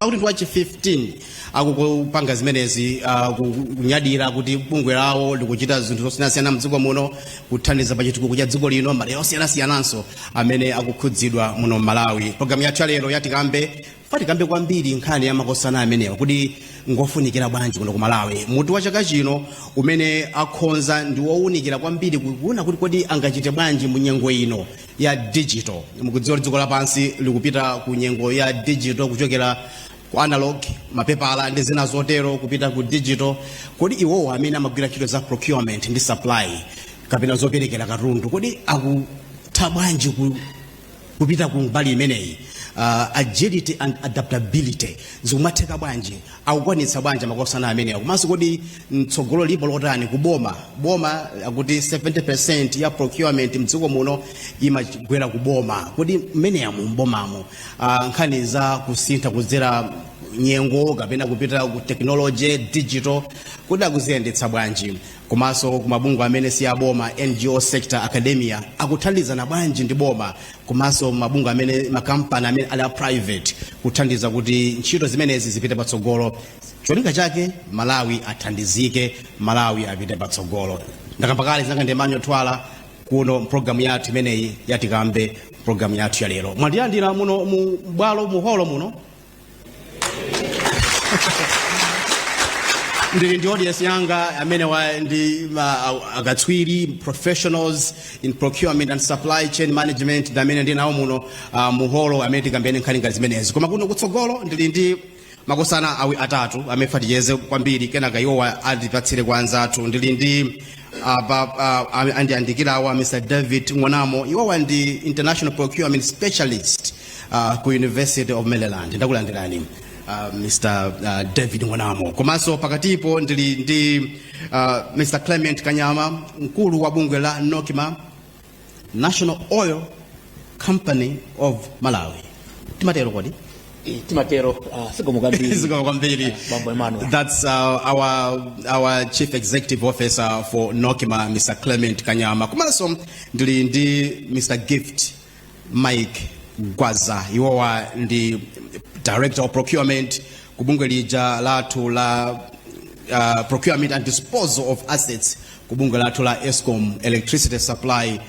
akuti ndi wachi 15 akupanga zimenezi ah, ku- kunyadira kuti bungwe lawo likuchita zinthu zosiyanasiyana mdziko muno kuthandiza pa chitukuko cha dziko lino madera osiyanasiyananso amene akukhudzidwa muno m'malawi programu yathu ya lero ya tikambe fa tikambe kwambiri nkhani ya makosana amenewa kuti ngofunikira bwanji kuno ku malawi mutu wa chaka chino umene akhonza ndi wowunikira kwambiri kuona kuti kodi angachite bwanji mu nyengo ino ya digital mukudziwa kuti dziko lapansi likupita ku nyengo ya digital kuchokera ku analog mapepala ndi zina zotero kupita ku digital kodi iwowo amene amagwira ntchito za procurement ndi supply kapena zoperekera katundu kodi akutha bwanji ku kupita ku mbali imeneyi uh, agility and adaptability zikumatheka bwanji akukwanitsa bwanji makosana amenewa komanso kodi tsogolo lipo lotani ku boma boma akuti 70% ya procurement mdziko muno imagwera ku boma kodi mmeneyamo mbomamo uh, nkhani za kusintha kudzera nyengo kapena kupita ku technology digital kodi akuziyendetsa bwanji komanso kumabungwe amene si aboma ngo sector academia akuthandizana bwanji ndi boma komanso mabungwe amene makampani amene ali a private kuthandiza kuti ntchito zimenezi zipite patsogolo cholinga chake malawi athandizike malawi apite patsogolo ndakamba kale dzina langa ndi emmanuel thuwala kuno mpulogalamu yathu imeneyi ya tikambe mpulogalamu yathu ya lero mwandilandira muno mu bwalo mu holo muno ndili ndi audience yanga amenewa ndi ma- a- akatswiri professionals in procurement and supply chain management ndi amene ndi nawo muno ah, mu holo amene tikambene nkhani ngati zimenezi koma kuno kutsogolo ndili ndi makosana awi atatu amene fa ticheze kwambiri kenaka iwowa atipatsire kwa anzathu ndili ndi apa ah, am- andiyandikirawa mr david ng'onamo iwowa ndi international procurement specialist uh, ku university of maryland ndakulandirani uh, mr uh, david ng'onamo komanso pakatipo ndili ndi uh, mr clement kanyama mkulu wa bungwe la nocma national oil company of malawi timatero kodi Eh, timatero uh, zikomo kwambiri zikomo kwambiri Eh, bambo emmanuel That's uh, our our chief executive officer for Nocma, Mr. Clement Kanyama. Komanso ndili ndi Mr. Gift mike gwaza iwowa ndi director of procurement ku bungwe lija lathu la uh, procurement and disposal of assets ku bungwe lathu la escom electricity supply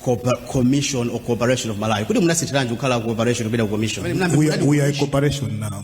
Corpor- commission or corporation of malawi kodi munasinthiranji kukhala corporation kupita ku commission we, are- we are a corporation now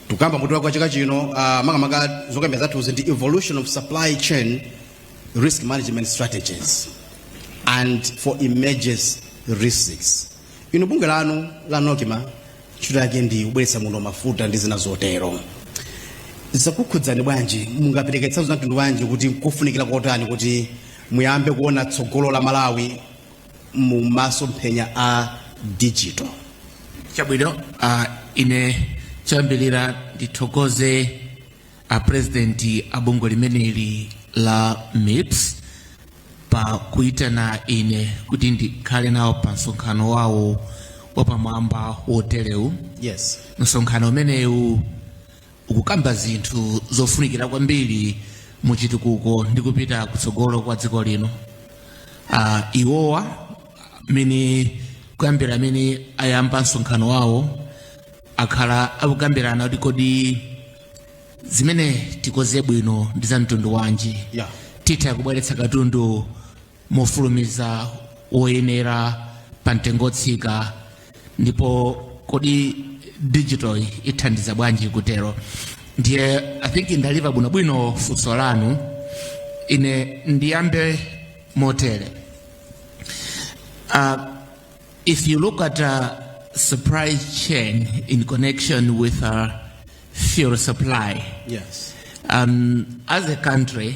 tukamba mutu wa chaka chino uh, makamaka zokambira zathuzi ndi evolution of supply chain risk management strategies and for emerging risks inu bungwe lanu la nocma ntchito yake ndi kubweretsa muno mafuta ndi zina zotero zakukhudzani bwanji mungapereke zitsanzo za mtundu wanji kuti kufunikira kotani kuti muyambe kuona tsogolo la malawi mu masomphenya a digital chabwino uh, ine choyambirira ndithokoze a president a bungwe limeneli la mips pa kuitana ine kuti ndikhale nawo pa msonkhano wawo wapamwamba woterewu yes msonkhano umenewu ukukamba zinthu zofunikira kwambiri mu chitukuko ndi kupita kutsogolo kwa dziko lino uh, iwowa mmene kuyambira mmene ayamba msonkhano wawo akhala akukambirana kuti kodi zimene tikoze bwino ndi za mtundu wanji Yeah. titha kubweretsa katundu mofulumiza woyenera pa mtengo wotsika ndipo kodi digital ithandiza bwanji kutero ndiye i think ndaliva bwinobwino funso lanu ine ndiyambe motere uh, if you look at uh, supply chain in connection with uh, fuel supply Yes. um, as a country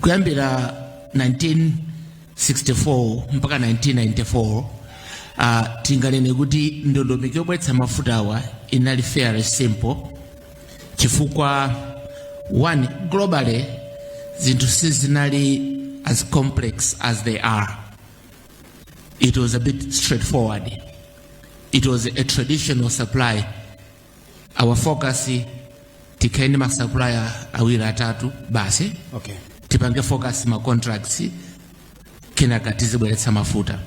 kuyambira 1964 mpaka 1994 uh, tinganene kuti ndondomeko yobweretsa mafutawa inali fairly simple chifukwa one globally zinthu sizinali as complex as they are it was a bit straightforward it was a traditional supply our focus tikhale ndi masupplier awiri atatu basi okay. tipange focus ma contracts kenaka tizibweretsa mafuta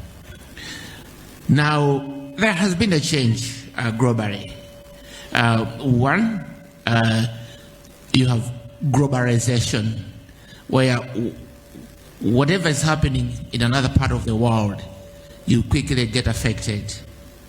now there has been a change uh, globally uh, one uh, you have globalization where w- whatever is happening in another part of the world you quickly get affected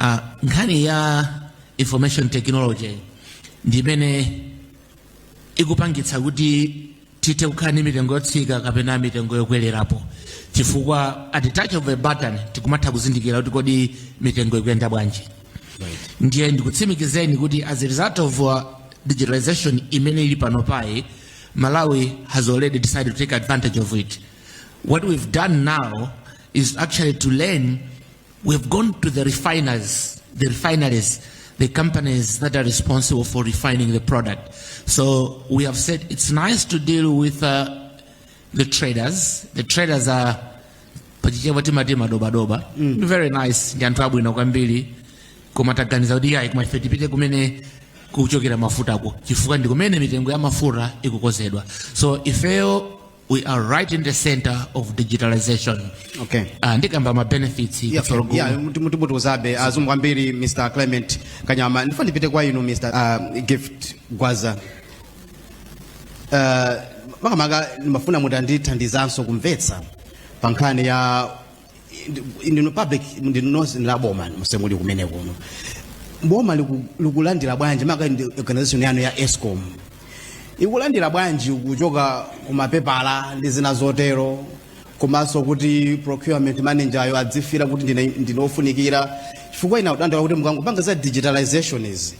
Uh, nkhani ya information technology ndi imene ikupangitsa kuti tithe kukhala ndi mitengo yotsika kapena mitengo yokwererapo chifukwa at the touch of a button tikumatha kuzindikira kuti kodi mitengo ikuyenda bwanji ndiye ndikutsimikizeni kuti as a result of uh, digitalization imene ili panopayi malawi has already decided to take advantage of it what we've done now is actually to learn We've gone to the refiners, the refineries, the companies that are responsible for refining the product. So we have said it's nice to deal with uh, the traders. The traders are pachichewa timati madobadoba mm. very nice ndi anthu abwino kwambiri koma taganiza kuti ayi koma ife tipite kumene kuchokera mafutako chifukwa ndi kumene mitengo ya mafuta ikukozedwa so ifeyo we are right in the center of digitalization okay uh, ndikamba ma benefits Yeah, kutsogolo kuno. yeah, muti- muti- mutiuzabe azungu kwambiri mr clement kanyama ndifuna ndipite kwa inu mr uh, gift gwaza uh, makamaka ndimafuna mutandithandizanso kumvetsa pa nkhani ya ya in public ndinu nonse ndi a boma musemuli kumene kuno boma liku- likulandira bwanji maka ndi organization yanu ya escom ikulandira bwanji kuchoka kumapepala ndi zina zotero komanso kuti procurement manager ayo adzifira kuti ndine- ndine ofunikira chifukwa ina kudandaula kuti mukangopanga za digitalization izi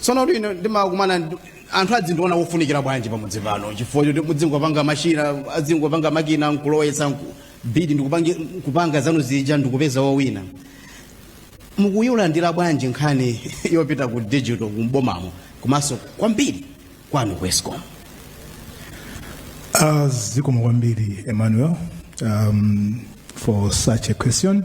tsono kuti ine ndimakumana ndi- anthu adzindiona wofunikira bwanji pamudzi pano chifukwa choti mudzingopanga mashina adzingopanga makina nkulowetsa nku- bidi ndikupanga nkupanga zanu zija ndikupeza wowina mukuyilandira bwanji nkhani yopita ku digital kumbomamo komanso kwambiri kwanu ku escom Uh, zikomo kwambiri emmanuel um, for such a question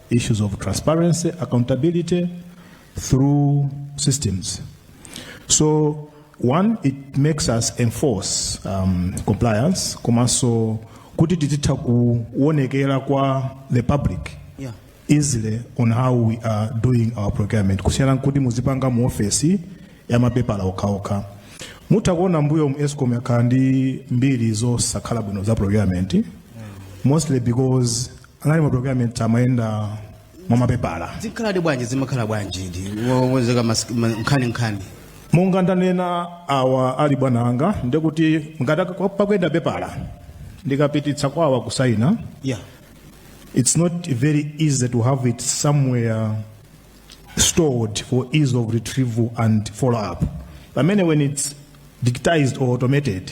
issues of transparency, accountability through systems. So one, it makes us enforce um, compliance komanso kuti tizitha kuonekera kwa the public Yeah. easily on how we are doing our procurement kusiyana nkuti muzipanga mu ofesi ya mapepala okhaokha mutha kuona mbuyomu escom yakhala ndi mbiri zosakhala bwino za procurement mostly because anali ma procurement amayenda mwa mapepala zikhaladi bwanji zimakhala bwanji ndi wowonzeka mas- ma- nkhani nkhani monga ndanena awa ali bwana anga ndikuti ngati ak- pakuyenda pepala ndikapititsa kwawa kusayina yeah it's not very easy to have it somewhere stored for ease of retrieval and follow up. Pamene when it's digitized or automated,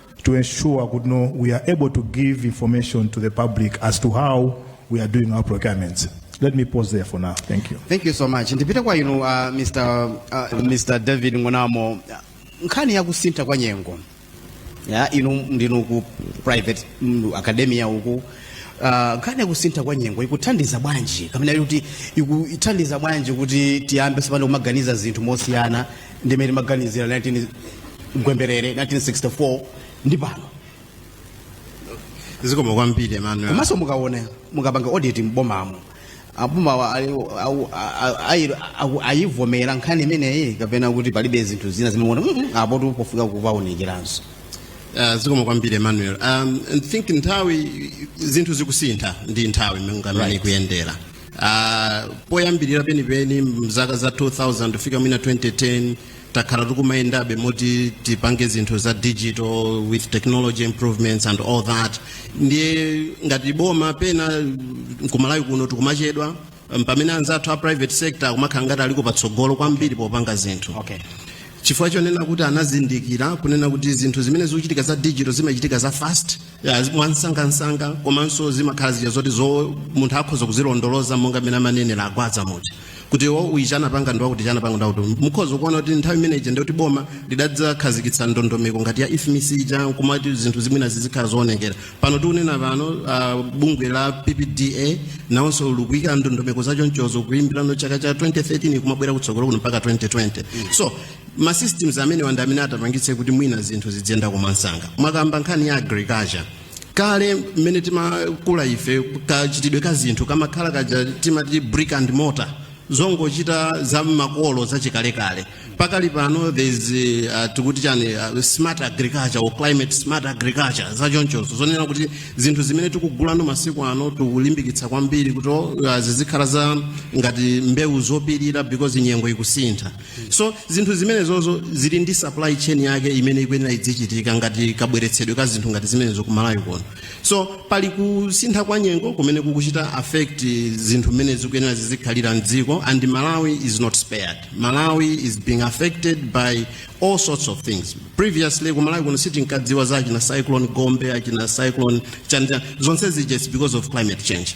to ensure kuti no we are able to give information to the public as to how we are doing our procurements. Let me pause there for now. Thank you. thank you so much ndipite kwa inu uh, mr, uh, mr david ngonamo nkhani ya kusintha kwa nyengo yeah inu ndinu ku private mm, academia uku uh, nkhani ya kusintha kwa nyengo ikuthandiza bwanji kapena kuti ikuthandiza bwanji kuti tiyambe tsopano kumaganiza zinthu mosiyana ndimene timaganizira 19 gwemberere 1964 ndi pano zikomo kwambiri emmanuel komanso mukaona mukapanga audit m'bomamo abomawa ayivomera nkhani imeneyi kapena kuti palibe zinthu zina zimene mwaonapo zoti zofunika kupaunikiranso Uh, zikomo kwambiri emmanuel um, I think nthawi zinthu zikusintha ndi nthawi monga mmene Right. ikuyendera Ah, poyambirira penipeni mzaka za 2000 kufika mwina 2010 takhala tikumayendabe moti tipange zinthu za digital with technology improvements and all that ndiye ngati boma pena kumalawi kuno tikumachedwa um, pamene anzathu a private sector akumakhala ngati aliko patsogolo kwambiri popanga zinthu okay. chifukwa chonena kuti anazindikira kunena kuti zinthu zimene zikuchitika za digital zimachitika za fast Ya, mwansangansanga komanso zimakhala zija zoti zo munthu akhoza kuzilondoloza monga mmene amanenera agwaza muja kuti wo uyi chanapanga ndi wakuti chanapanga ndi wakuti mukhoza kuona kuti nthawi imene ija ndiyoti boma lidadzakhazikitsa ndondomeko ngati ya ifmis ija nkumati zinthu zimwinazi zizikhala zoonekera pano tikunena pano uh, bungwe la ppda nawonso likuika ndondomeko zachonchozo kuyambira mu chaka cha 2013 kumabwera kutsogolo kuno mpaka 2020 so ma systems amenewa ndi amene atapangitse kuti mwina zinthu zidziyenda mwamsanga mwakamba nkhani ya agriculture kale mmene timakula ife kachitidwe ka zinthu kamakhala kaja timati brick and mortar zongochita za makolo zachikalekale pakali pano there's uh, tikuti chani uh, smart agriculture or climate smart agriculture zachonchozo zonena kuti zinthu zimene tikugulano masiku ano tikulimbikitsa kwambiri kuti uh, zizikhala za ngati mbewu zopirira because nyengo ikusintha so zinthu zimenezozo zili ndi supply chain yake imene ikuyenera idzichitika ngati kabweretsedwe ka zinthu ngati zimenezo ku malawi kuno so pali kusintha kwa nyengo kumene kukuchita affect zinthu mmene zikuyenera zizikhalira mdziko and malawi is not spared malawi is being affected by all sorts of things previously ku malawi kuno sitinkadziwa za achina cyclone gombe achina cyclone chanja zonse zija it's because of climate change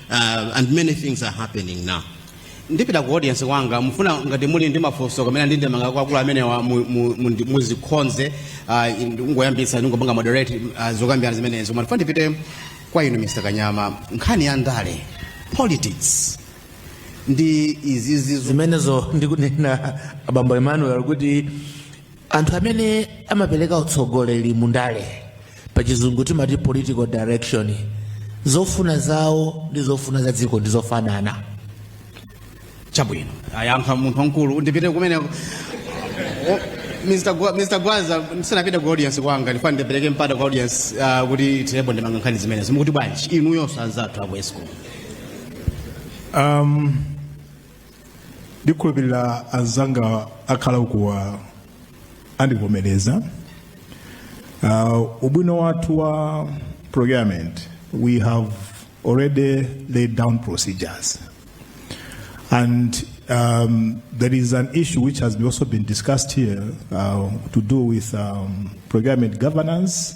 uh, and many things are happening now ndipita ku audience kwanga mufuna ngati muli ndi mafunso kamena ndi ndemanga kwa akulu amenewa mu- mu- mu- ndi- muzikhonze ah, ndi- ngoyambitsa ndingopanga moderate ah, zokambirana zimenezo ma ndifuna ndipite kwa inu mr kanyama nkhani ya ndale politics ndi izizi zo- zimenezo ndikunena abambo emmanuel kuti anthu amene amapereka utsogoleri mu ndale pa chizungu timati political direction zofuna zawo ndi zofuna za dziko ndi zofanana chabwino ayankha munthu wamkulu ndipite kumeneko O- Mr. Gwa- Mr. gwaza ndisanapite ku audience kwanga ndifuna ndipereke mpata ku audience ah, kuti athirepo ndemanga nkhani zimenezi mukuti bwanji inuyonso anzathu aku escom Um, ndikhulupirira anzanga akhala ukuwa andivomereza uh, ubwino wathu wa procurement we have already laid down procedures and um, there is an issue which has also been discussed here uh, to do with um, procurement governance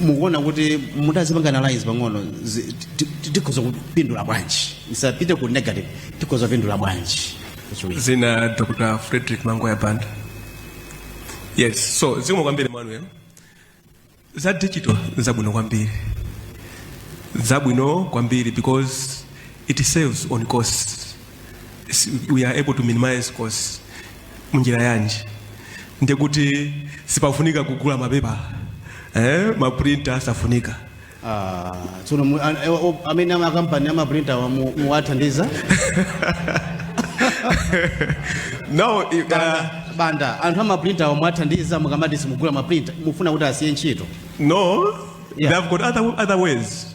mukuona kuti mutazipanga analyze pang'ono zi- ti- ti- tikhoza kupindula bwanji isapite ku negative tikhoza kupindula bwanji Chiwiri. dzina dr frederick mangoya banda yes so zikomo kwambiri manuel za digital zabwino kwambiri zabwino kwambiri because it saves on cost S- we are able to minimize costs munjira yanji ndiye kuti sipafunika kugula mapepala eh, maprinta safunika Ah, tsono mu- an- eh, o- amene amakampani amaprinta wa mu- muwathandiza no i- uh, koma anthu amaprinta wa muwathandiza mukamati simugula maprinta mufuna kuti asiye ntchito no Yeah. they've got other, other ways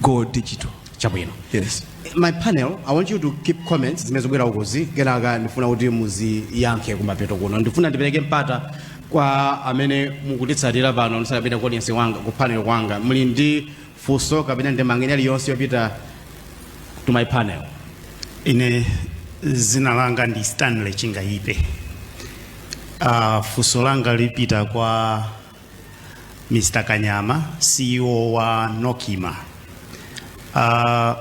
go digital chabwino yes my panel i want you to keep comments zimene zikubwera ukozi kenaka ndifuna kuti muziyankhe kumapeto kuno ndifuna ndipereke mpata kwa amene mukutitsatira pano ndisakapita ku audience wanga ku panel kwanga muli ndi funso kapena ndemanga iliyonse yopita to my panel ine zina langa ndi stanley chingayipe uh, funso langa lipita kwa Mr. Kanyama, CEO wa Nocma. Uh,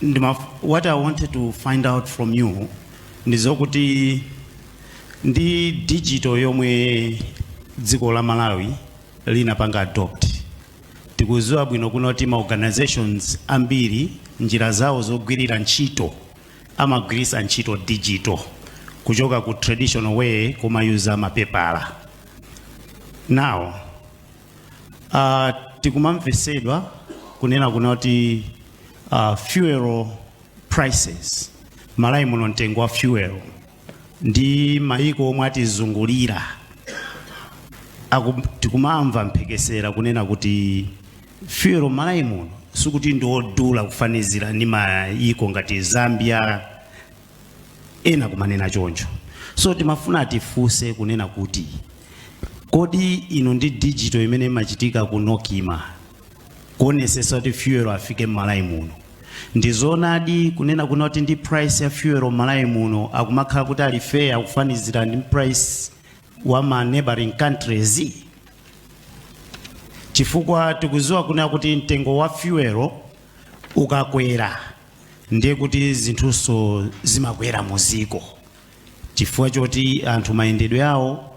ndima, what I wanted to find out from you ndi zokuti ndi digital yomwe dziko la Malawi linapanga adopt. Tikuziwa bwino kunena kuti ma organizations ambiri njira zawo zogwirira ntchito amagwiritsa ntchito digital kuchoka ku traditional way kumayuza mapepala now uh, tikumamvesedwa kunena kuna kuti uh, fuel prices malawi muno mtengo wa fuel ndi mayiko omwe atizungulira tikumamva mphekesera kunena kuti fuel malawi muno sikuti ndiodula kufanizira ndi mayiko ngati zambia ena kumanena choncho so timafuna tifunse kunena kuti kodi inu ndi digital imene imachitika ku nocma kuonesesa kuti fuel afike mmalawi muno ndizonadi kunena kuna kuti ndi price ya fuel mmalawi muno akumakhala kuti ali fair kufanizira ndi price wa ma neighboring countries chifukwa tikuziwa kunena kuti mtengo wa fuel ukakwera ndiye kuti zinthunso zimakwera mu dziko chifukwa choti anthu mayendedwe awo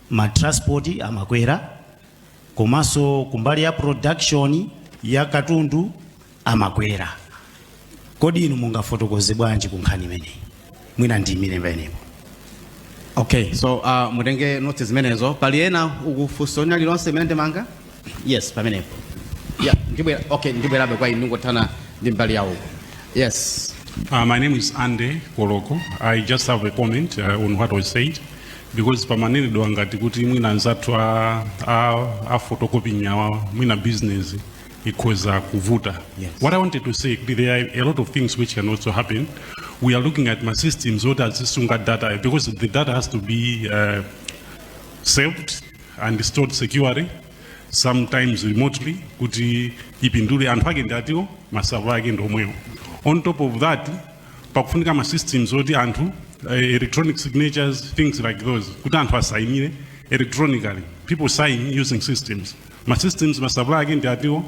ma transport amakwera komanso kumbali ya production ya katundu amakwera kodi inu mungafotokoze bwanji ku nkhani imeneyi mwina ndiyimire pamenepo okay so uh, mutenge notes zimenezo pali ena a funso lina lililonse kapena ndemanga yes pamenepo yeah, ndibwera okay ndibwerabe kwa inu ndingothana ndi mbali iyo yes Uh, my name is Andy Koloko. I just have a comment uh, on what was said because pamanenedwa ngati kuti mwina anzathu a, a, a photocopying awa mwina business ikhoza kuvuta Yes. what i wanted to say kuti there are a lot of things which can also happen we are looking at ma systems oti azisunga data because the data has to be uh, saved and stored securely sometimes remotely kuti ipindule anthu ake ndatiwo masava ake ndomwewo on top of that pakufunika ma systems oti anthu uh, electronic signatures things like those kuti anthu asainire electronically people sign using systems ma systems ma supplier ake ndi atiwo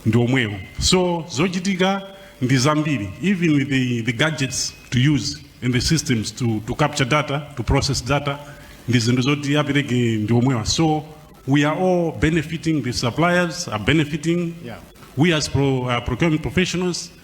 ndi omwewo so zochitika ndi zambiri even with the, the gadgets to use and the systems to, to capture data to process data ndi zinthu zoti apereke ndi omwewa so we are all benefiting the suppliers are benefiting we as pro, uh, procurement professionals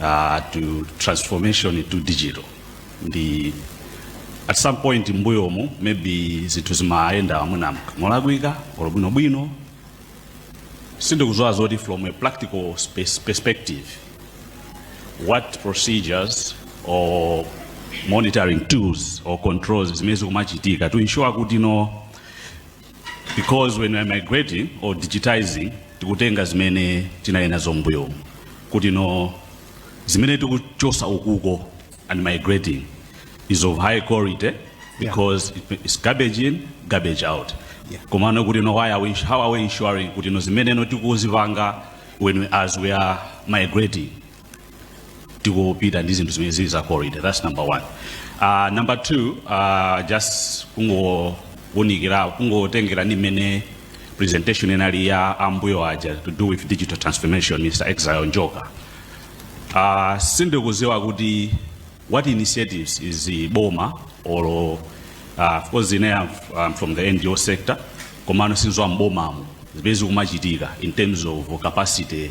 uh, to transformation into digital ndi at some point mbuyomu maybe zinthu zimayenda mwina molakwika or bwinobwino sindikuziwa zoti from a practical perspective what procedures or monitoring tools or controls zimene zikumachitika to ensure kuti no because when we are migrating or digitizing tikutenga zimene tinali nazo mbuyo kuti no zimene tikuchosa ukuko and migrating is of high quality because it is garbage in garbage out Yeah. komano kuti no why are we, how are we ensuring kuti no zimene no tikuzipanga when we, as we are migrating tikupita ndi zinthu zimene zili za quality that's number one uh, number two uh, just kungounikira kungotengera ndi mmene presentation inali ya ambuyo aja to do with digital transformation mr exile njoka uh, sindikuziwa kuti what initiatives is the boma or uh, of course ine I'm, I'm from the ngo sector komano sindiziwa m'bomamo zimene zikumachitika in terms of capacity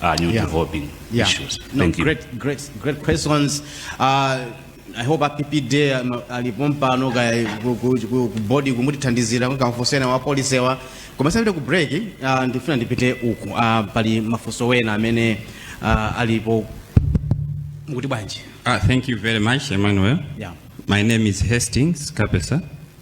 uh, new yeah. developing yeah. issues. No, Thank great, you. Great, great questions. Uh, I hope APP day um, alipompa no guy body kumutithandizira kukamfosena wa police wa komesa kuti ku break uh, ndifuna ndipite uku uh, pali mafunso wena amene uh, alipo mukuti bwanji. Ah, thank you very much Emmanuel. Yeah. My name is Hastings Kapesa.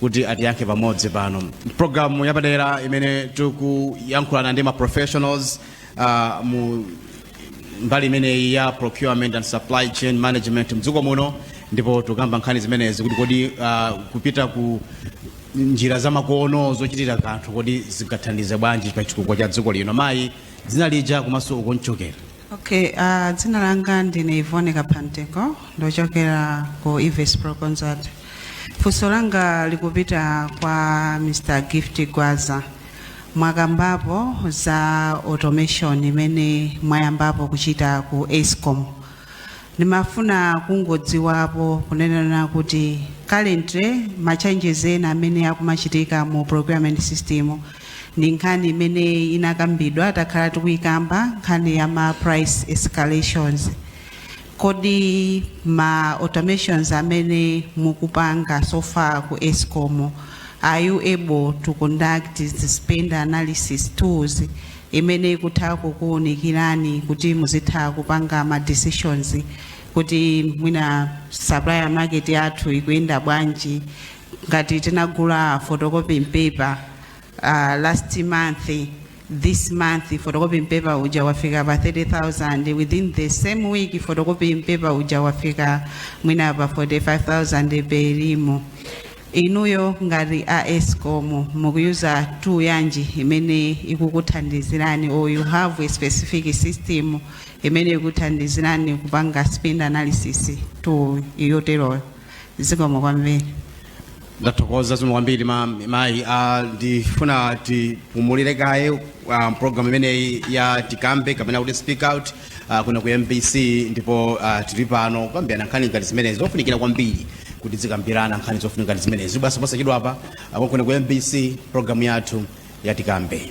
kuti atiyankhe pamodzi pano programu yapadera imene tikuyankhulana ndi ma professionals uh, mu mbali imeneyi ya procurement and supply chain management mdziko muno ndipo tukamba nkhani zimenezi kuti kodi uh, kupita ku njira zamakono zochitira kanthu kodi zingathandize bwanji pa chitukuko cha dziko lino mayi dzina lija komanso ukomchokera Okay, uh, dzina langa ndine Ivone Kapanteko ndochokera ku Ives Pro Consult. Funso langa likupita kwa Mr. Gift Gwaza. Mwakambapo za automation imene mwayambapo kuchita ku Escom. Ndimafuna kungodziwapo kunenana kuti currently ma changes ena amene akumachitika mu procurement system ndi nkhani imene inakambidwa takhala tikuyikamba nkhani ya ma price escalations kodi ma automations amene mukupanga so far ku escom are you able to conduct the spend analysis tools imene ikutha kukuunikirani kuti muzitha kupanga ma decisions kuti mwina supplier market yathu ikuyenda bwanji ngati tinagula photocopying paper uh, last month this month photocopying paper uja wafika pa 30000 within the same week photocopying paper uja wafika mwina pa 45000 per ream inuyo ngati a escom mukuyuza tool yanji imene ikukuthandizirani or you have a specific system imene ikuthandizirani kupanga spend analysis tool yoteroyo zikomo kwambiri ndathokoza zikomo kwambiri ma- mayi Ah, ndifuna tipumulire kaye ah, program imeneyi ya tikambe kapena kuti speak out ah, kuno ku mbc ndipo ah, tili pano kukambirana nkhani ngati zimenezi zofunikira kwambiri kuti zikambirana nkhani zofunika ngati zimenezi basi posachedwa apa ah, kuno ku mbc program yathu ya tikambe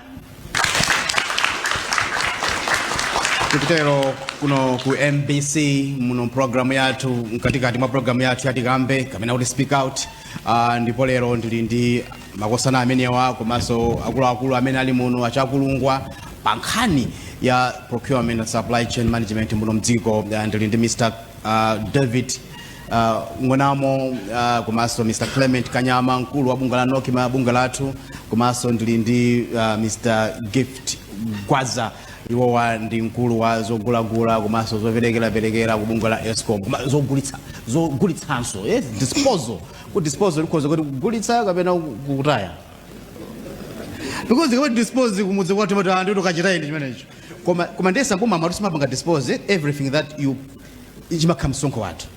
tikutero kuno ku mbc muno programu yathu mkatikati mwa programu yathu yatikambe kapena kuti speak out uh, ndipo lero ndili ndi makosana amenewa komanso akuluakulu amene ali muno achakulungwa pa nkhani ya procurement and supply chain management muno mdziko Ah, ndili ndi mr uh, david Uh, ng'onamo uh, komanso Mr. Clement Kanyama mkulu wa bungwe la Nokima bungwe lathu komanso ndili ndi uh, Mr. Gift Gwaza iwowa ndi mkulu wa zogulagula komanso zoperekeraperekera ku bungwe la Escom koma zogulitsa zogulitsanso yes disposal ku disposal ikhoza kukhala kugulitsa kapena kutaya because ukamati dispose kumudzi kwathu amati anthu tokachitayi ndi chimenecho koma koma ndiye za mboma amatu simumapanga dispose eh, everything that you chimakhala msonkho wathu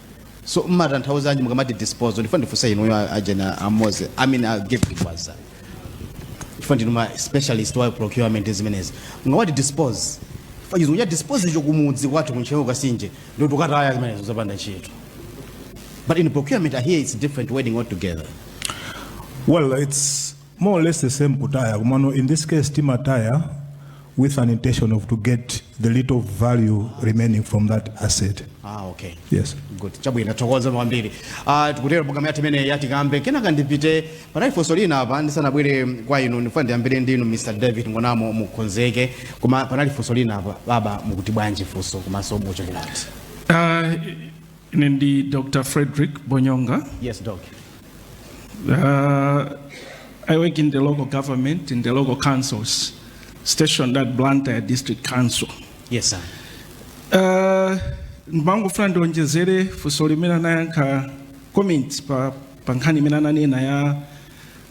so mmatanthauza anji mukamati dispose ndifuna ndifunse inuyo a- ajena amoze i mean i gift gwaza chifukwa ndinu ma specialist wa procurement zimenezi mukamati dispose pachizungu kuti dispose icho kumudzi kwathu kuntcheu kasinje ndikuti ukataya zimenezo zopanda ntchito but in procurement i hear it's different wording altogether Well, it's more or less the same kutaya komano in this case timataya with an intention of to get the little value remaining from that asset ah okay yes good chabwino tathokoza kwambiri ah tikutero programu yathu imeneyi yatikambe kenaka ndipite panali funso lina apa ndisanabwere kwa inu ndifuna ndiyambire ndinu mr david ng'onamo mukonzeke koma panali funso lina apa baba mukuti bwanji funso komanso muchokera kuti Uh, Ine ndi Dr. Frederick Bonyonga. Yes, Doc. Uh, I work in the local government, in the local councils, stationed at Blantyre District Council. Yes, sir. Uh, ndimangofuna ndionjezere pa funso limene anayankha comment pa, pa nkhani imene ananena ya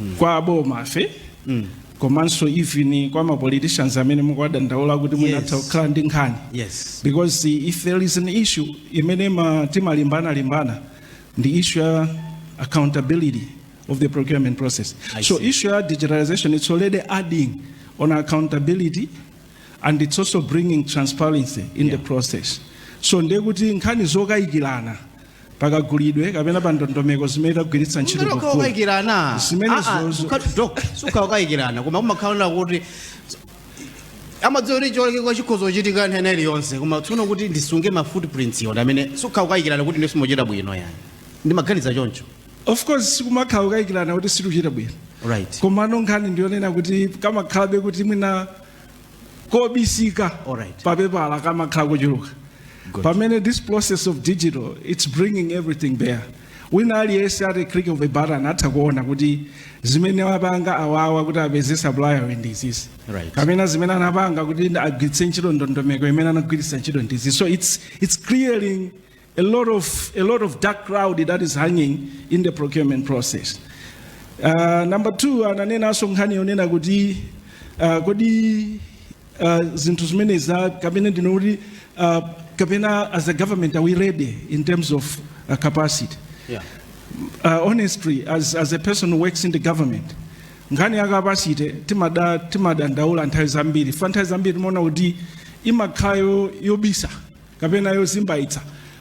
mm. kwa abomafe mm. komanso even kwa mapoliticians amene mukuwadandaula kuti mwina atha yes. kukhala ndi nkhani yes. because if there is an issue imene timalimbana limbana ndi issue ya accountability of the procurement process I so see. issue ya digitalization it's already adding on accountability and it's also bringing transparency in yeah. the process so ndekuti nkhani zokayikirana pa kagulidwe kapena pa ndondomeko zimene tagwiritsa ntchito Mumero pogula. kukayikirana Zimene zozo- sikukayikirana koma kumakhala kuti amadziwa kuti chiolekeko chikhoza kuchitika nthawi iliyonse koma tsono kuti ndisunge ma footprints iwo amene sikukayikirana kuti ndiye simuchita bwino yani ndimaganiza choncho of course sikumakhala kukayikirana kuti situchita bwino right komano nkhani ndiyonena kuti kamakhalabe kuti mwina kobisika Alright. papepala kamakhala kochuluka Good. pamene this process of digital it's bringing everything bare wina aliyense ati click of a button atha kuona kuti zimene wapanga awawa kuti apeze supplier yu ndizizi Right. kapena zimene anapanga kuti agwiritse ntchito ndondomeko imene anagwiritsa ntchito ndizizi so it's, it's clearing a lot of a lot of dark cloud that is hanging in the procurement process uh, number two ananenanso nkhani yonena kuti uh, kodi uh, zinthu zimene za kapena ndinene kuti uh, kapena as a government are we ready in terms of uh, capacity Yeah. uh, honestly as, as a person who works in the government nkhani ya capacity timada timadandaula nthawi zambiri fa nthawi zambiri timaona kuti imakhala yobisa kapena yozimbaitsa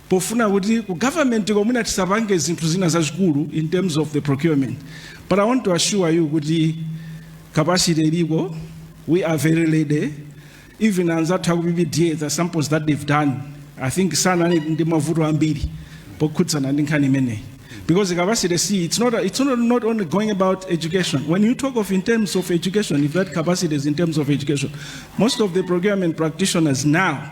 pofuna kuti ku government ko mwina tisapange zinthu zina zazikulu in terms of the procurement but i want to assure you kuti capacity ilipo we are very ready even anzathu aku PPDA the samples that they've done i think sanali ndi mavuto ambiri pokhudzana ndi nkhani imeneyi because the capacity see it's not it's not, not only going about education when you talk of in terms of education if that capacity is in terms of education most of the procurement practitioners now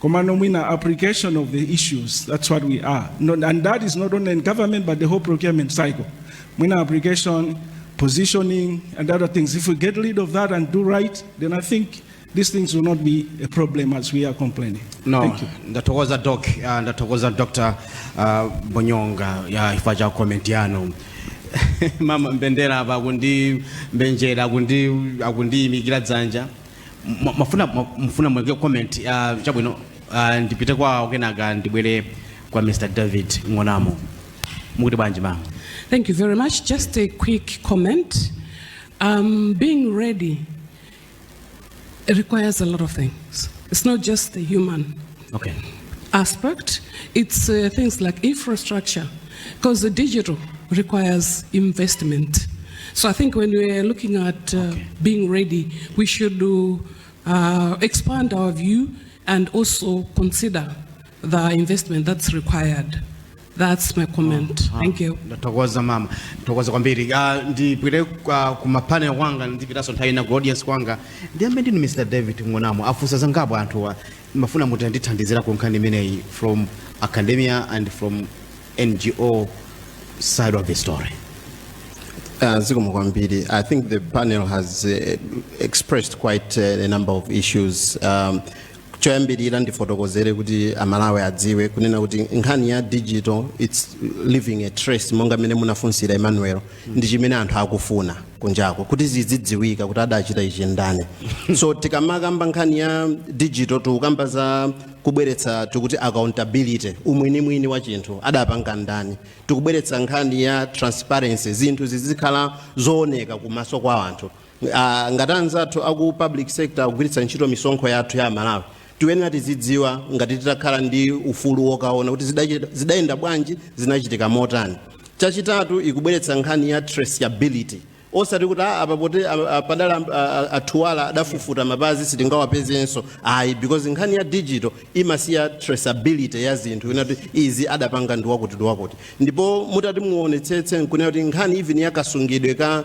Komano mwina application of the issues, that's what we are. No, and that is not only in government, but the whole procurement cycle. Mwina application, positioning, and other things. If we get rid of that and do right, then I think these things will not be a problem as we are complaining. No, Thank you. ndatokoza doc, uh, ndatokoza Dr. Uh, Bonyonga ya ifa cha comment yanu. Mama Mbendera apa kundi mbenjera kundi akundiyimikira dzanja. Mwa- mwafuna mwa- mufuna muike comment ah, chabwino ah, ndipite kwawo kenaka ndibwere kwa mr david ng'onamo mukuti bwanji mama Thank you very much. Just a quick comment. Um, being ready it requires a lot of things. It's not just the human okay. aspect, it's uh, things like infrastructure, because the digital requires investment. So I think when we're looking at uh, okay. being ready, we should do, uh, expand our view and also consider the investment that's required. That's my comment. Oh, Thank you. Ndathokoza mama. Ndathokoza kwambiri. Ah, ndipite uh, ku mapane wanga ndipitaso nthawi na audience kwanga. Ndiyambe ndinu Mr. David Ngonamo afunsa zangapo anthuwa. Ndimafuna mutandithandizirako nkhani imeneyi from academia and from NGO side of the story. Uh, Zikomo kwambiri. I think the panel has uh, expressed quite uh, a number of issues. Um, choyambirira ndifotokozere kuti amalawi adziwe kunena kuti nkhani ya digital its leaving a trace monga mmene munafunsira emmanuel ndi chimene anthu akufuna kunjako kuti zizidziwika kuti adachita ichi ndani so tikamakamba nkhani ya digital tikukamba za kubweretsa tikuti accountability umwinimwini wa chinthu adapanga ndani tikubweretsa nkhani ya transparency zinthu zizikhala zooneka kumaso kwa anthu Ah, ngati anzathu aku public sector akugwiritsa ntchito misonkho yathu ya amalawi tiyenera tizidziwa. Ngati titakhala ndi ufulu wokaona kuti zidachi- zidayenda bwanji zinachitika motani chachitatu ikubweretsa nkhani ya traceability osati kuti "Ah, apa poti ah, ah, padadutsa ah, ah, athuwala adafufuta mapazi sitingawapezenso ayi because nkhani ya digital imasiya traceability ya zinthu yoti izi adapanga ndi wakuti ndi wakuti ndipo mutati muonetsetse nkunena kuti nkhani even ya kasungidwe ka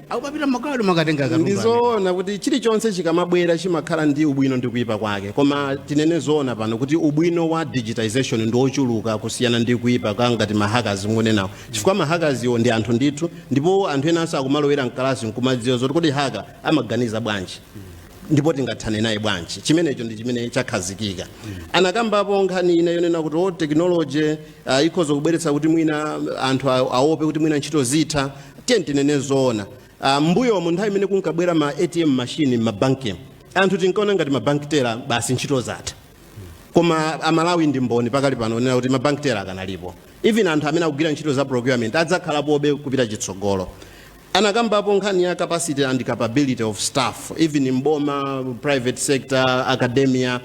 akupapita mmakwalala makatenga katundu amene. ndizoona kuti chilichonse chikamabwera chimakhala ndi ubwino ndi kuyipa kwake koma tinene zoona pano kuti ubwino wa digitization ndi wochuluka kusiyana ndi kuyipa kwa ngati mahackers mukunenawo chifukwa mahackers-wo ndi anthu ndithu ndipo anthu enanso akumalowera mkalasi nkumadziwa zoti kodi hacker amaganiza bwanji ndipo tingathane naye bwanji chimenecho ndi chimene chakhazikika anakambapo nkhani ina yonena kuti o technology uh, ikhoza kubweretsa kuti mwina anthu a- aope kuti mwina ntchito zitha tiyeni tinene zoona uh, m'mbuyomu nthawi imene kunkabwera ma atm machine m'mabanki anthu tinkaona ngati ma bank teller basi ntchito zatha koma amalawi ndi mboni pakali pano onena kuti ma bank teller akanalipo even anthu amene akugwira ntchito za procurement adzakhalapobe kupita chitsogolo anakambapo nkhani ya capacity and capability of staff even mboma private sector academia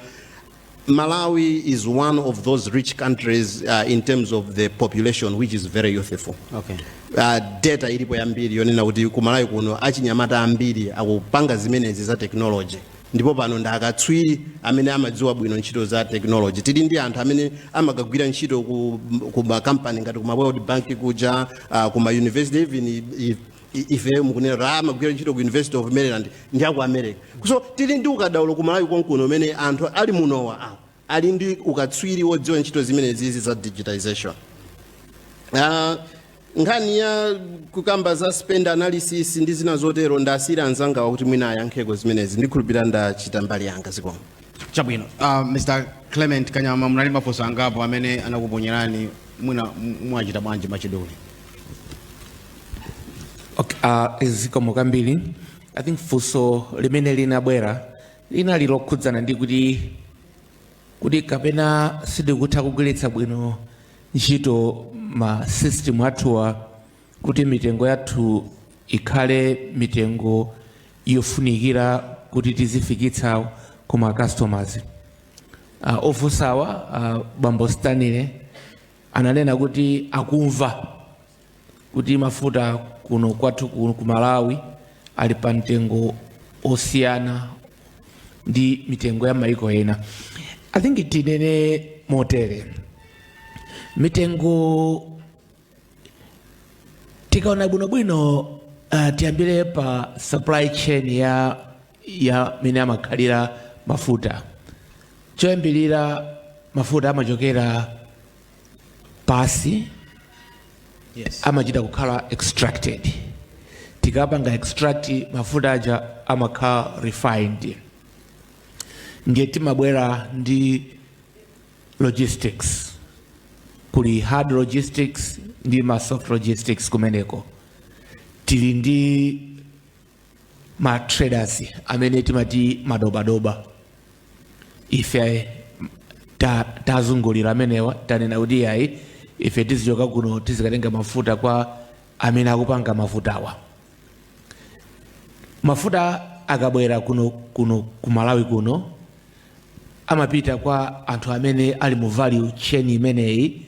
Malawi is one of those rich countries uh, in terms of the population which is very youthful. Okay. Uh, data ilipo yambiri yonena kuti ku Malawi kuno achinyamata ambiri akupanga zimenezi za technology ndipo pano ndi akatswiri amene amadziwa bwino ntchito za technology tili ndi anthu amene amakagwira ntchito ku, ku makampani ngati ku ma world bank kuja uh, ku ma university even i- i- I- ife mukunena kuti amagwira ntchito ku university of maryland ndi aku america so tili ndi ukadaulo ku malawi konkuno umene anthu ali munowa awa ali ndi ukatswiri wodziwa ntchito zimenezizi za digitization Ah, nkhani ya kukamba za spend analysis ndi zina zotero ndasiyira anzangawa kuti mwina ayankheko zimenezi ndikhulupirira ndachita mbali yanga zikomo chabwino uh, mr clement kanyama munali mafunso angapo amene anakuponyerani mwina m- mwachitsanzo mwa chidule Okay, uh, zikomo kwambiri i think funso limene linabwera linali lokhudzana ndi kuti kuti kapena sitikutha kugwiritsa bwino ntchito ma system athuwa kuti mitengo yathu ikhale mitengo yofunikira kuti tizifikitsa ku ma customers uh, ofunsawa uh, bambo stanley ananena kuti akumva kuti mafuta kuno kwathu kuno ku Malawi ali pa mtengo wosiyana ndi mitengo ya maiko ena i think tinene motere mitengo tikaona bwinobwino uh, tiyambire pa supply chain ya ya mene amakhalira mafuta choyambirira mafuta amachokera pansi yes. amachita kukhala extracted tikapanga extract mafuta aja amakhala refined ndiye timabwera ndi logistics kuli hard logistics ndi ma soft logistics kumeneko tili ndi ma traders amene timati madobadoba ife ta- tazungulira amenewa tanena kuti yayi ife tizichoka kuno tizikatenga mafuta kwa amene akupanga mafutawa mafuta akabwera kuno ku malawi kuno amapita kwa anthu amene ali mu value chain imeneyi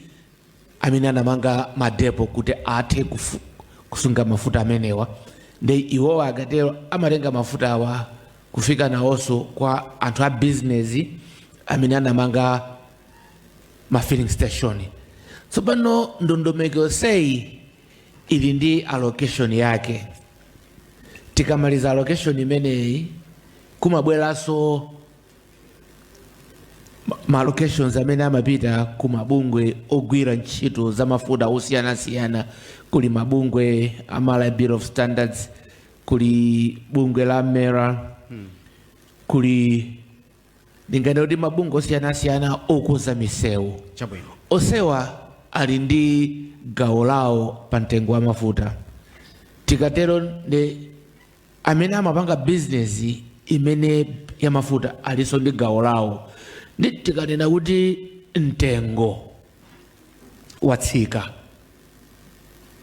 amene anamanga madepo kuti athe kufu- kusunga mafuta amenewa ndiye iwowa akatero amatenga mafuta awa kufika nawonso kwa anthu a bizinesi amene anamanga ma filling station tsopano ndondomeko yonseyi ili ndi allocation yake tikamaliza allocation imeneyi kumabweranso ma allocations amene amapita ku mabungwe ogwira ntchito za mafuta osiyanasiyana kuli mabungwe a Malawi Bureau of Standards kuli bungwe la mera kuli ndinganene kuti mabungwe osiyanasiyana okonza misewu chabwino onsewa ali ndi gawo lawo pa mtengo wa mafuta tikatero ndiye amene amapanga bizinesi imeneyi ya mafuta alinso ndi gawo lawo ndiye tikanena kuti mtengo watsika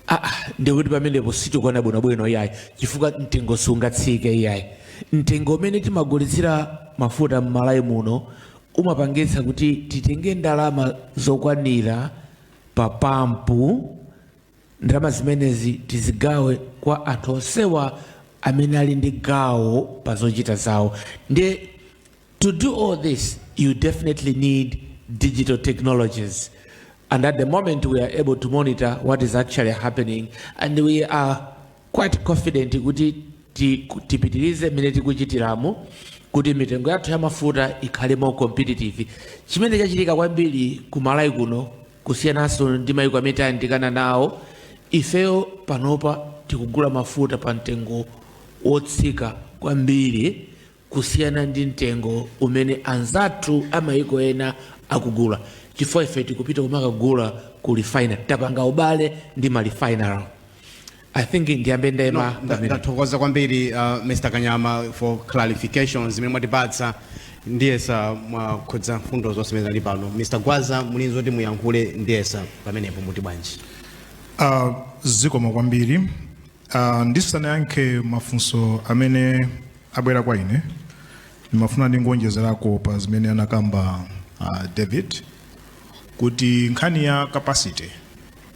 ah, ah, ndikuti pamenepo sitikuona bwinobwino iyayi chifukwa mtengo sungatsike iyayi mtengo umene timagulitsira mafuta m'malawi muno umapangitsa kuti titenge ndalama zokwanira pa pampu Ndalama zimenezi tizigawe kwa anthu onsewa amene ali ndi gawo pa zochita zawo ndiye to do all this you definitely need digital technologies and at the moment we are able to monitor what is actually happening and we are quite confident kuti ti- tipitirize mmene tikuchitiramu kuti mitengo yathu ya mafuta ikhale more competitive chimene chachitika kwambiri ku malawi kuno Kusiyananso ndi maiko amene tayandikana nawo, ifeyo panopa tikugula mafuta pa mtengo wotsika kwambiri kusiyana ndi mtengo umene anzathu a maiko ena akugula chifukwa ife tikupita kumakagula ku refinery. Tapanga ubale ndi ma refinery. I think ndiyambe nda- ndathokoza kwambiri uh, mr kanyama for clarifications zimene mwatipatsa ndiyesa mwakhudza mfundo zonse zimene zili pano mr gwaza mulinzo zoti muyankhule ndiyesa pamenepo muti bwanji Uh, zikomo kwambiri uh, ndisanayankhe mafunso amene abwera kwa ine ndimafuna ndingonjezerako pa zimene anakamba uh, david kuti nkhani ya capacity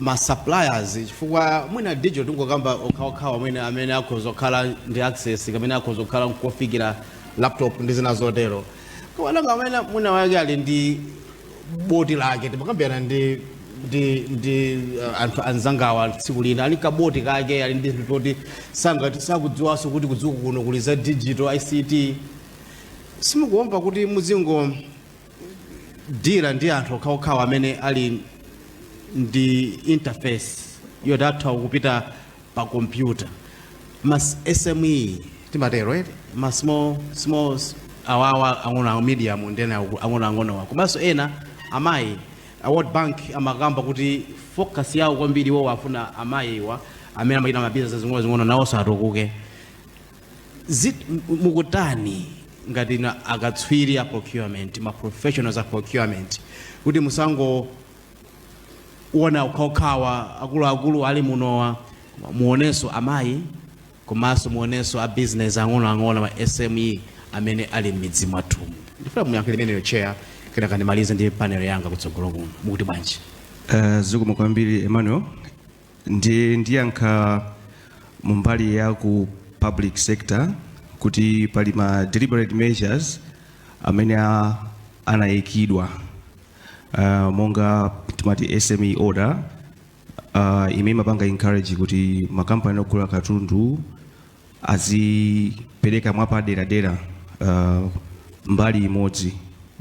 ma suppliers chifukwa mwina digital tingokamba okhaokhawa mwina amene akhoza kukhala ndi access kamene akhoza kukhala nkofikira laptop ndi zina zotero kawananga amene mwina wake ali ndi boti lake timakambirana ndi anthu anzangawa tsiku lina ali kaboti kake ali ndi zinthu toti sangati sakudziwanso kuti kudziko kuno kuli za digital ict simukuopa kuti muzingo dira ndi anthu okhaokhawa amene ali ndi interface yoti atha kupita pa kompyuta ma sme timatero eti ma small small s- awawa ang'onoang'o medium ndi ena ang'onoang'onowa komanso ena amayi a world bank amakamba kuti focus yawo kwambiri iwo afuna amayiwa amene amachita mabizinezi zing'onozing'ono nawonso atukuke mukutani ngati inu akatswiri a procurement ma professionals a procurement kuti musangoona okhaokhawa akuluakulu ali munowa muonenso amayi komanso muonenso ma business ang'onoang'ono ma sme amene ali m'midzi mwathumu ndifuna muyankhe imeneyo chair kenaka ndimalize ndi panel yanga kutsogolo kuno mukuti bwanji Uh, zikomo kwambiri Emmanuel ndiye ndiyankha mumbali ya ku public sector kuti pali ma deliberate measures amene a- anayikidwa uh, monga timati SME order uh, imene imapanga encourage kuti makampani ogula katundu azipereka mwapaderadera uh, mbali imodzi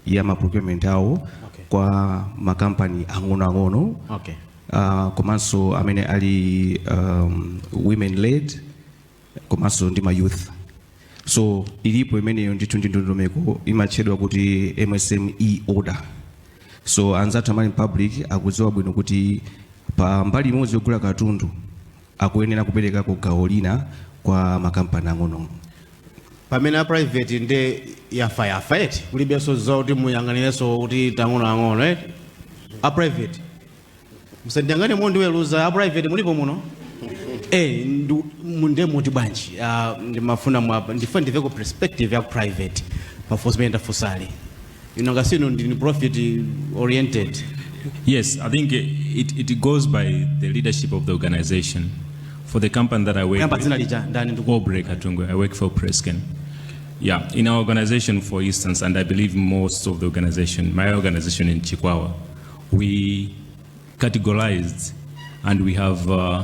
ya maprocurement awo okay. kwa makampani ang'onoang'ono okay. uh, komanso amene ali um, women led komanso ndi ma youth so ilipo imeneyo ndithu ndi ndondomeko imatchedwa kuti msme order so anzathu amene ali public akudziwa bwino kuti pa mbali imodzi yogula katundu akuyenera kuperekako gawo lina kwa makampani ang'ono. pamene a private nde yafa yafa eti kulibenso zoti muyang'anirenso kuti ang'onoang'ono eti a private musandiyang'ane mondiweruza a private mulipo muno Eh, ndu- mu- nde muti bwanji Ah, ndimafuna mwapa ndife ndimveko perspective ya private mafunso mene ndafusali ino ngasinu ndini profit oriented Yes, I think it, it goes by the leadership of the organization. For the company that I work Kuyamba dzina with, lija ndani ndikuwa Aubrey Katungu, I work for Prescan. Yeah, in our organization, for instance, and I believe most of the organization, my organization in Chikwawa, we categorized and we have uh,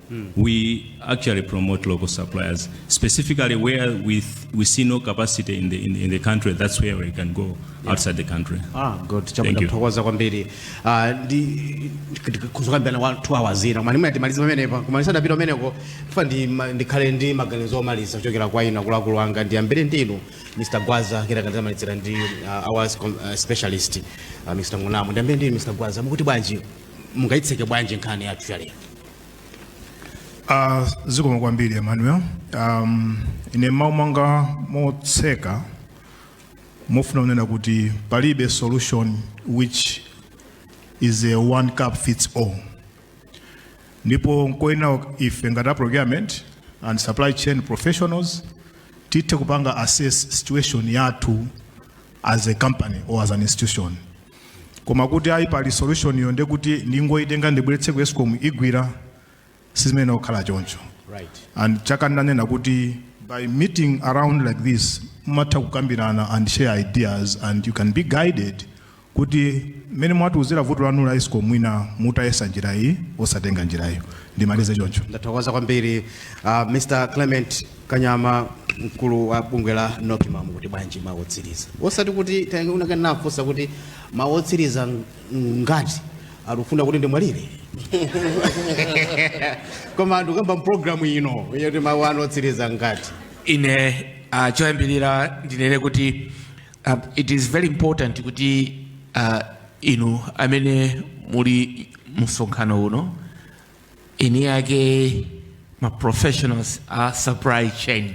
we actually promote local suppliers, specifically where we, we see no capacity in the, in, in the country, that's where we can go outside the country. Ah, good. Thank you. Takuthokozani kwambiri. Ah, ndi zokambirana za 2 hours ina. Koma ndimati timalize pamenepa. Koma ndisadapite kumeneko. Ndikufuna ndi ma- ndikhale ndi maganizo omaliza kuchokera kwa inu akuluakulu anga ndiyambire ndi inu Mr. Gwaza kenaka ndidzamalizira ndi ah, our com- ah, specialist ah, Mr. Ngunamo. Ndiyambire ndi inu Mr. Gwaza. Mukuti bwanji? Mungaitseke bwanji nkhani yathu ya lero? Uh, zikomo kwambiri Emmanuel. Um, ine mawu anga motseka ndifuna kunena kuti palibe solution which is a one cup fits all. Ndipo nkoyenera ife ngati a procurement and supply chain professionals tithe kupanga assess situation yathu as a company or as an institution. Koma kuti ayi pali solution iyo ndekuti ndingoitenga ndibweretse ku Escom igwira si zimene zikhala choncho. Right. And chachikulu ndanena kuti by meeting around like this mumatha kukambirana and share ideas and you can be guided kuti mmene mwatiuzira vuto lanu la Escom mwina mutayesa njira iyi osatenga njira iyo ndimalize choncho. Ndathokoza kwambiri uh, Mr. Clement Kanyama mkulu wa bungwe la Nocma mukuti bwanji mawu otsiriza osati kuti paja wina kale anafunsa kuti mawu otsiriza ng- ngati akufuna kuti ndimwalire koma ndikukamba mpulogalamu ino yoti mawu anu otsiriza ngati ine uh, choyambirira ndinene kuti uh, it is very important kuti uh, inu amene muli msonkhano uno eni ake ma professionals a supply chain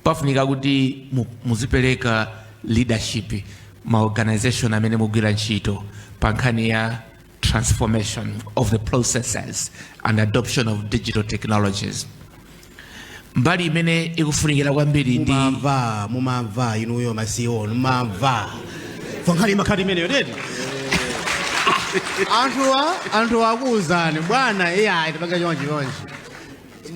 pafunika kuti mu- muzipereka leadership m'ma organization amene mugwira ntchito pa nkhani ya transformation of the processes and adoption of digital technologies mbali imene ikufunikira kwambiri ndi mumamva mumamva inuyo masikuwo mumamva fankhani imakhala imeneyo teti anthuwa anthu akuwuzani bwana iyayi tipanga chonchi chonchi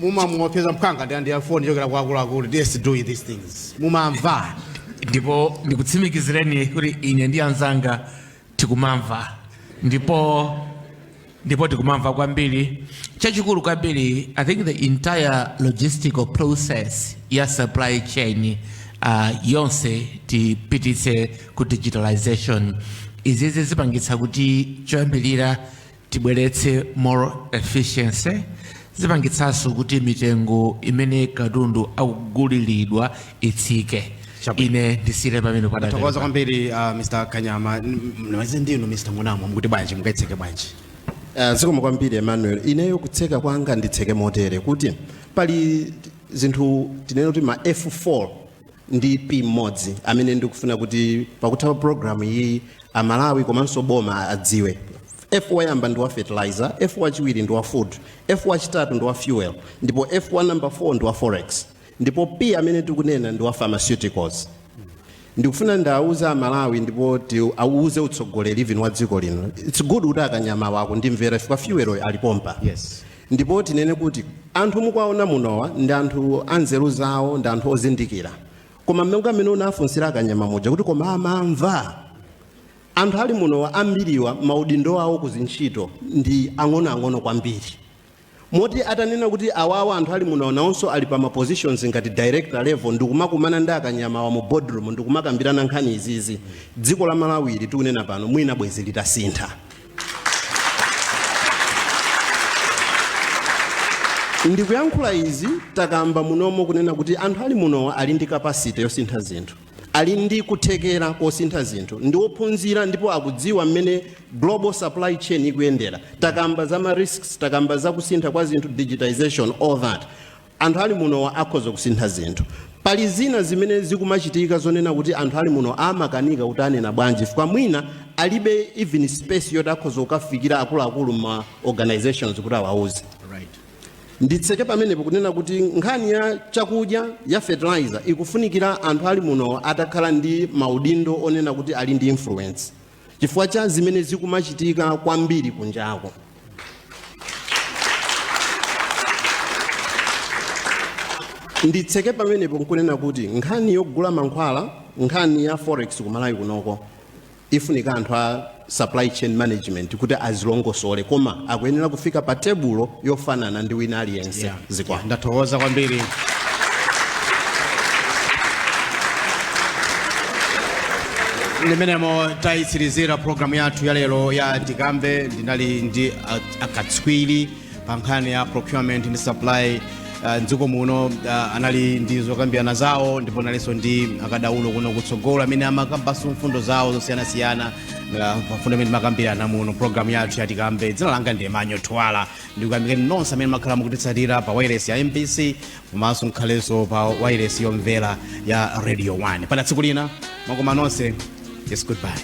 mumamuopseza mphanga ndi foni yochokera kwa akuluakulu yes do these things mumamva ndipo ndikutsimikizireni kuti ine ndi anzanga tikumamva ndipo ndipo tikumamva kwambiri chachikulu kwambiri i think the entire logistical process ya supply chain uh, yonse tipititse ku digitalization izizi zipangitsa kuti choyambirira tibweretse more efficiency zipangitsanso kuti mitengo imene katundu akuguliridwa itsike Chabwino. ine ndisire pamene padala ndathokoza kwambiri uh, mr kanyama nawaze ndinu mr munamo mukuti bwanji mungaitseke bwanji Ah, zikomo kwambiri emmanuel ineyo kutseka kwanga nditseke motere kuti pali zinthu tinene kuti ma f4 ndi p mmodzi amene ndikufuna kuti pakutha pa programu iyi amalawi komanso boma adziwe f woyamba ndi wa fertilizer f wachiwiri ndi wa food f wachitatu ndi wa fuel ndipo f wa number 4 ndi wa forex ndipo P amene tikunena ndi wa pharmaceuticals ndikufuna ndiwauze amalawi ndipo tiwauze utsogoleri even wa dziko lino its good kuti akanyamawa akundimvera chifukwa fuel alipompa Yes. ndipo tinene kuti anthu mukuwaona munowa ndi anthu anzeru zawo ndi anthu ozindikira koma mmene mmene unafunsira akanyama muja kuti koma amamva anthu ali munowa ambiriwa maudindo awo kuzintchito ndi ang'onoang'ono kwambiri Moti atanena kuti awawa anthu ali munowa nawonso ali pa ma positions ngati director level ndikumakumana ndi akanyamawa mu boardroom ndikumakambirana nkhani izizi, dziko la Malawi ili tikunena pano mwina bwezi litasintha. Ndikuyankhula izi takamba munomo kunena kuti anthu ali munowa ali ndi capacity yosintha zinthu. Ali ndi kuthekera kosintha zinthu, ndi ophunzira ndipo akudziwa mmene global supply chain ikuyendera. Takamba za ma risks, takamba za kusintha kwa zinthu, digitization, all that. Anthu ali munowa akhoza kusintha zinthu. Pali zina zimene zikumachitika zonena kuti anthu ali muno amakanika kuti anena bwanji chifukwa mwina alibe even space yoti akhoza kukafikira akuluakulu ma organizations kuti awauze. nditseke pamenepo kunena kuti nkhani ya chakudya ya fertilizer ikufunikira anthu ali muno atakhala ndi maudindo onena kuti ali ndi influence chifukwa cha zimene zikumachitika kwambiri kunjako nditseke pamenepo nkunena kuti nkhani yogula mankhwala nkhani ya forex kumalawi kunoko ikufunika anthu a supply chain management kuti azilongosole koma akuyenera kufika pa tebulo yofanana ndi wina aliyense yeah. zikomo yeah. ndathokoza kwambiri mmenemo tayitsirizira programu yathu ya lero ya tikambe ndinali ndi akatswiri pa nkhani ya procurement ndi supply uh, mdziko muno uh, anali ndi zokambirana zawo ndipo analinso ndi akadaulo kuno kutsogolo amene amakambanso mfundo zawo zosiyanasiyana uh, pa mfundo imene imakambirana muno programu yathu yatikambe dzina langa ndi manyo twala ndikuyamikeni nonse amene mwakhala mukutitsatira pa wailesi ya mbc komanso mukhalenso pa wailesi yomvera ya radio 1 mpaka tsiku lina mwakoma nonse yes goodbye